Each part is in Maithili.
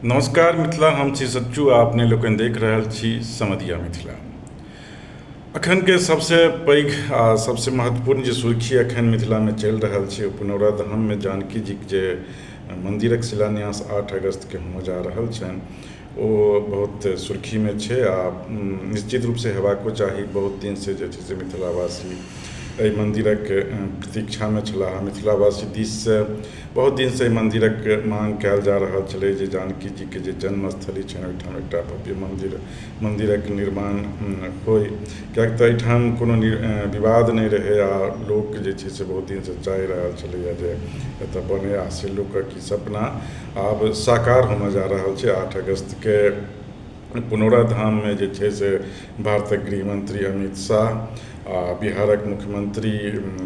नमस्कार मिथिला हम छी सच्चू आ अपने लोकनि देख रहल छी समधिया मिथिला अखनके सभसँ पैघ आ सभसँ महत्वपूर्ण जे सुर्खी अखन मिथिलामे चलि रहल छै ओ पुनौरा धाममे जानकी जीक जे मन्दिरक शिलान्यास आठ अगस्तके होमऽ जा रहल छनि ओ बहुत सुर्खीमे छै आ निश्चित रूपसँ हेबाको चाही बहुत दिनसँ जे छै से मिथिलावासी एहि मन्दिरक प्रतीक्षामे छलाह मिथिलावासी दिससँ बहुत दिनसँ एहि मन्दिरक माँग कयल जा रहल छलै जे जानकी जीके जे जन्म स्थली छनि ओहिठाम एकटा भव्य मन्दिर मन्दिरक निर्माण होइ किएक तऽ एहिठाम कोनो विवाद नहि रहै आ लोक जे छै से बहुत दिनसँ चाहि रहल छलैया जे एतऽ बनै आ से लोकक ई सपना आब साकार होमय जा रहल छै आठ अगस्तके पुनौरा धाममे जे छै से भारतक गृहमन्त्री अमित शाह आ बिहारक मुख्यमन्त्री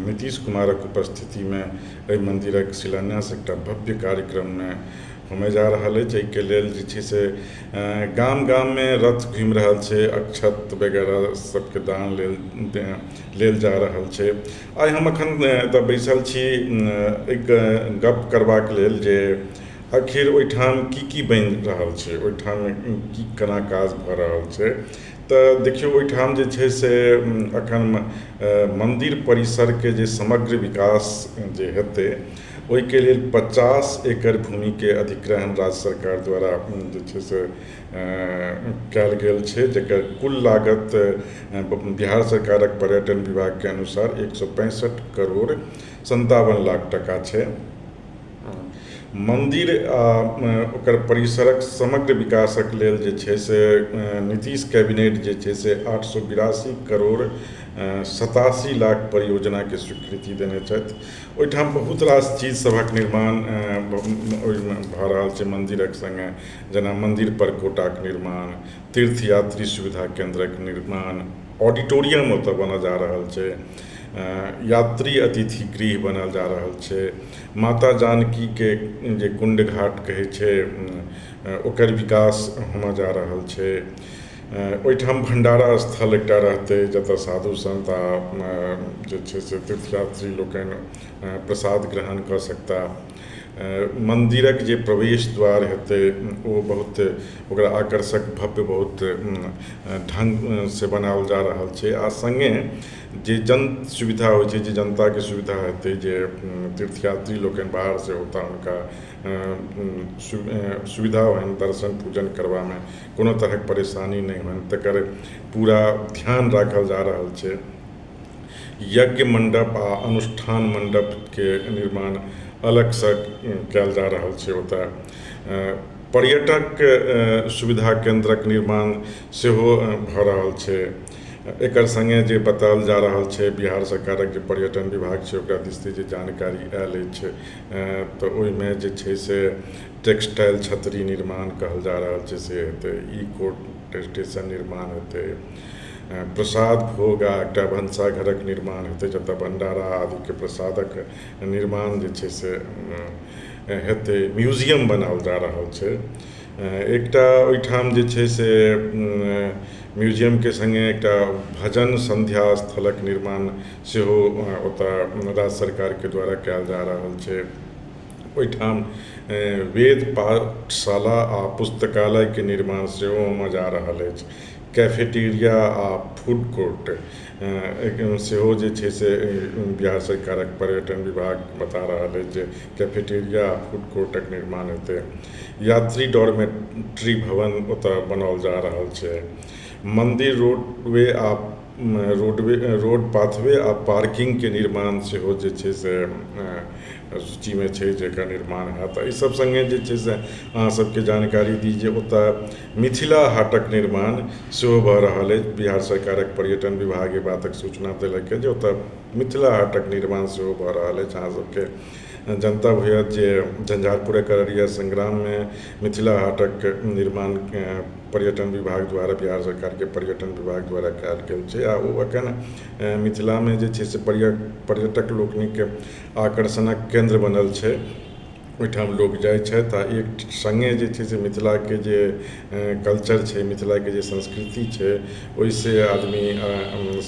नीतीश कुमारक उपस्थितिमे एहि मन्दिरक शिलान्यास एकटा भव्य कार्यक्रममे होमय जा रहल अछि एहिके लेल जे छै से गाम गाममे रथ घुमि रहल छै अक्षत वगैरह सभके दान लेल लेल जा रहल छै आइ हम एखन एतय बैसल छी एक गप्प करबाक लेल जे आखिर ओहिठाम की की बनि रहल छै ओहिठाम की केना काज भऽ रहल छै तऽ देखियौ ओहिठाम जे छै से अखन मन्दिर परिसरके जे समग्र विकास जे हेतै ओहिके लेल पचास एकड़ भूमिके अधिग्रहण राज्य सरकार द्वारा जे छै से कयल गेल छै जेकर कुल लागत बिहार सरकारक पर्यटन विभागके अनुसार एक सए पैंसठि करोड़ सन्तावन लाख टाका छै मन्दिर आओर ओकर परिसरक समग्र विकासक लेल जे छै से नीतीश कैबिनेट जे छै से आठ सए बिरासी करोड़ सतासी लाख परियोजनाके स्वीकृति देने छथि ओहिठाम बहुत रास चीज सभक निर्माण ओहिमे भऽ रहल छै मन्दिरक सङ्गे जेना मन्दिर पर कोटाक निर्माण तीर्थ यात्री सुविधा केन्द्रक निर्माण ऑडिटोरियम ओतऽ बनऽ जा रहल छै यात्री अतिथि गृह बनायल जा रहल छै माता जानकीके जे कुण्ड घाट कहै छै ओकर विकास होमय जा रहल छै ओहिठाम भण्डारा स्थल एकटा रहतै जतय साधु संत आ जे छै से तीर्थयात्री लोकनि प्रसाद ग्रहण कऽ सकता मन्दिरक जे प्रवेश द्वार हेतै ओ बहुत ओकरा आकर्षक भव्य बहुत ढङ्गसँ बनाओल जा रहल छै आ सङ्गे जे जन सुविधा होइ छै जे जनताके सुविधा हेतै जे तीर्थ यात्री लोकनि बाहरसँ औताह हुनका सु सुविधा होनि दर्शन पूजन करबामे कोनो तरहक परेशानी नहि होनि तकर पूरा ध्यान राखल जा रहल छै यज्ञ मण्डप आ अनुष्ठान मण्डपके निर्माण अलगसँ कयल जा रहल छै ओतऽ पर्यटक सुविधा केन्द्रक निर्माण सेहो भऽ रहल छै एकर सङ्गे जे बताओल जा रहल छै बिहार सरकारक जे पर्यटन विभाग छै ओकरा दिस से जे जानकारी आयल अछि तऽ ओहिमे जे छै से टेक्सटाइल छतरी निर्माण कहल जा रहल छै से हेतै ई कोर्ट स्टेशन निर्माण हेतै प्रसाद भोग आ एकटा भनसा घरक निर्माण हेतै जतऽ भण्डारा आदिके प्रसादक निर्माण जे छै से हेतै म्यूजियम बनाओल जा रहल छै एकटा ओहिठाम जे छै से म्यूजियमके सङ्गे एकटा भजन सन्ध्या स्थलक निर्माण सेहो ओतऽ राज्य सरकारके द्वारा कयल जा रहल छै ओहिठाम वेद पाठशाला आ पुस्तकालयके निर्माण सेहो होमऽ जा रहल अछि कैफेटेरिया आ फूड कोर्ट सेहो जे छै से बिहार सरकारक पर्यटन विभाग बता रहल अछि जे कैफेटेरिया आ फूड कोर्टक निर्माण हेतै यात्री डॉर्मेट्री भवन ओतऽ बनाओल जा रहल छै मन्दिर रोपवे आ रोडवे रोड पाथवे आ पार्किंगके निर्माण सेहो जे छै से सूचीमे छै जकर निर्माण होयत एहि सब सङ्गे जे छै से अहाँ सबके जानकारी दी जे ओतऽ मिथिला हाटक निर्माण सेहो भऽ रहल अछि बिहार सरकारक पर्यटन विभाग एहि बातक सूचना देलक जे ओतऽ मिथिला हाटक निर्माण सेहो भऽ रहल अछि अहाँ सबके जनतब होयत जे झंझारपुरक अररिया संग्राममे मिथिला हाटक निर्माण पर्यटन विभाग द्वारा बिहार सरकारके पर्यटन विभाग द्वारा कयल गेल छै आ ओ एखन मिथिलामे जे छै से पर्यटक लोकनिक आकर्षणक केन्द्र बनल छै ओहिठाम लोक जाइ छथि आ एक संगे जे छै से मिथिलाके जे कल्चर छै मिथिलाके जे संस्कृति छै ओहिसँ आदमी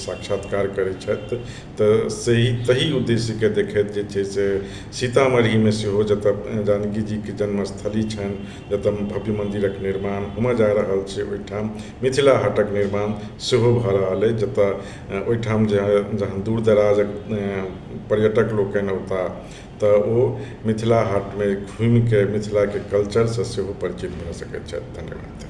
साक्षात्कार करै छथि तऽ सही तहि उद्देश्यके देखैत जे छै से सीतामढ़ीमे सेहो जतय जानकी जीके जन्म स्थली छनि जतय भव्य मन्दिरक निर्माण होमय जा रहल छै ओहिठाम मिथिला हाटक निर्माण सेहो भऽ रहल अछि जतय ओहिठाम जे जहन दूर दराजक पर्यटक लोकनि औताह तऽ ओ मिथिला हाटमे घुमि कऽ मिथिलाके कल्चरसँ सेहो परिचित भऽ सकैत छथि धन्यवाद